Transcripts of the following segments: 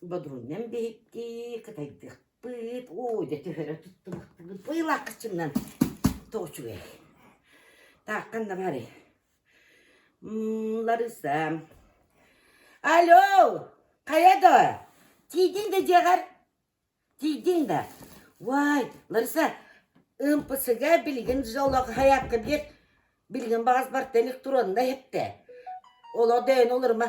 Бодруннан биһиктии, кытайдыахпыт, оо, дьэ төһөрө туттубахтыгыт, быылаах кыччымнан тоҕо үчүгэй. Тааккан да баарый. Лариса, алло, хайа да, тиийдиҥ да дьиэҕэр? Тиийдиҥ да? Вай, Лариса, ымпысыга билигин дьоллоох хайаакка биэр, билигин баҕас барта илик туруонда иһиттэ. Олор да эн олорума,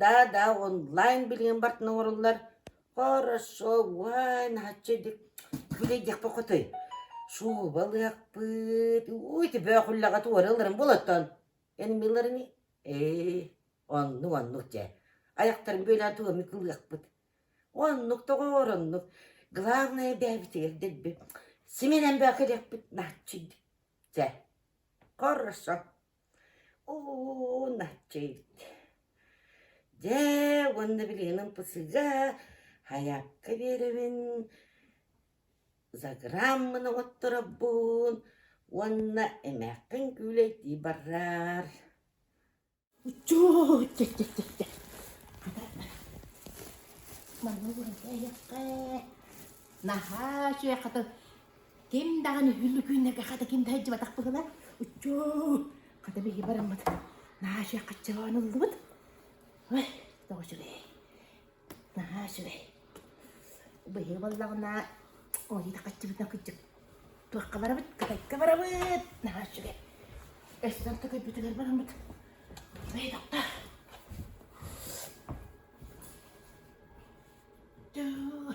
даа-даа онлайн билигин бартына оҥоруллар хорошо уай наһаччы дик били диэхпэ хотой шуба ылыахпыт ууй төбөөх үллэҕэ туора ыларын болоттон эн миларыни ээ оннук оннук дьэ айахтарын бүөлээн туомник ылыахпыт оннук доҕоор оннук главное бэйэбитигэр дэлби симинэн бөөкө диэхпит нааччы дьэ хорошо Оо, наччыйт! Дьэ, уонна билигинин ПСИ-га хайаапка биэрэбин, заграммын оҥотторобун уонна эмээххин күүлэйдии бараар Оччоо, чэ, чэ, чэ, чэ. Манна уурайа эһиэхэ. Наһаа үчүгэй хатан Ким даҕаны Үллүкүүннэргэ хата ким да сылдьыбатах быһылар. Уччуу! Хата биһиги бараммыт. Наша хаччаан ыллыбыт. Ой, тоҕо үчүгэй. Нааша үчүгэй. Быйыл баллаҕына ойута хаччыбытына кыдьык. Туохха барабыт? Кытайга барабыт. Нааша үчүгэй. Эстэн кытайбытыгар бараммыт. Ой, доктор. Дөө.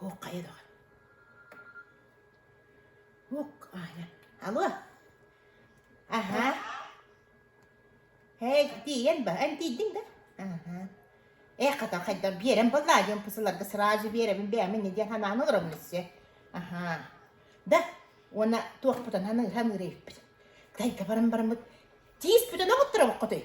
Һук хайа даҕа. Һук аһынан. Алло. Аһаа. Һэй, тиийэн ба, эн тиийдиҥ да? Аһаа. Ээ хата хайдах биэрэн буоллаа диэн пысыларга сразу биэрэбин бэйэмин не диэн ханаан олоробун өссө. Аһаа. Да уонна туохпутан ханыырһан ыырыйыппыт. Тайга баран бараммыт тиис бүтэн оҕуттара боккотуй.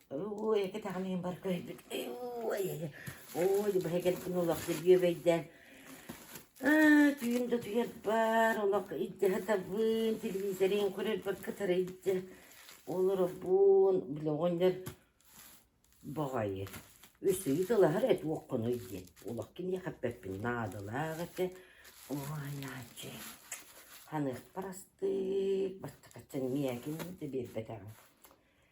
Ой, кэтэҕин иһин барыта өйбүн, ой, ой, быһа кэлбин олох дьүбүөбэйдээн. Аа, түүн да утуйарбар, олох илдьэ сатабын, телевизорин көрөрбөр кытары илдьэ олоробун. Били оҕонньор баҕайы үсүйү тылаһар эт уоккунуй диэн. Олох киниэхэ эппэппин наадалаах этэ. Ой, Ааччы, ханыахпар астык, бастакаччын миэкин да биэрбэтэҕим.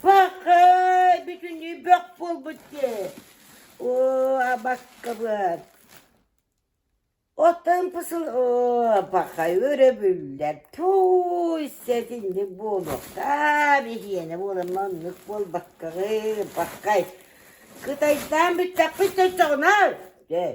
Пахай, бүтүннүү бөх буолбут дии. Оо, баскабыат. Оттон пысыл оо, пахай өрөбүллэр. Туй, сэтинник буолуохтаах, биһиэнэ буолан маннык буолбаккаҕы, пахай. Кытайдаан бүттэхпит төсөҕүнэр. Дэй.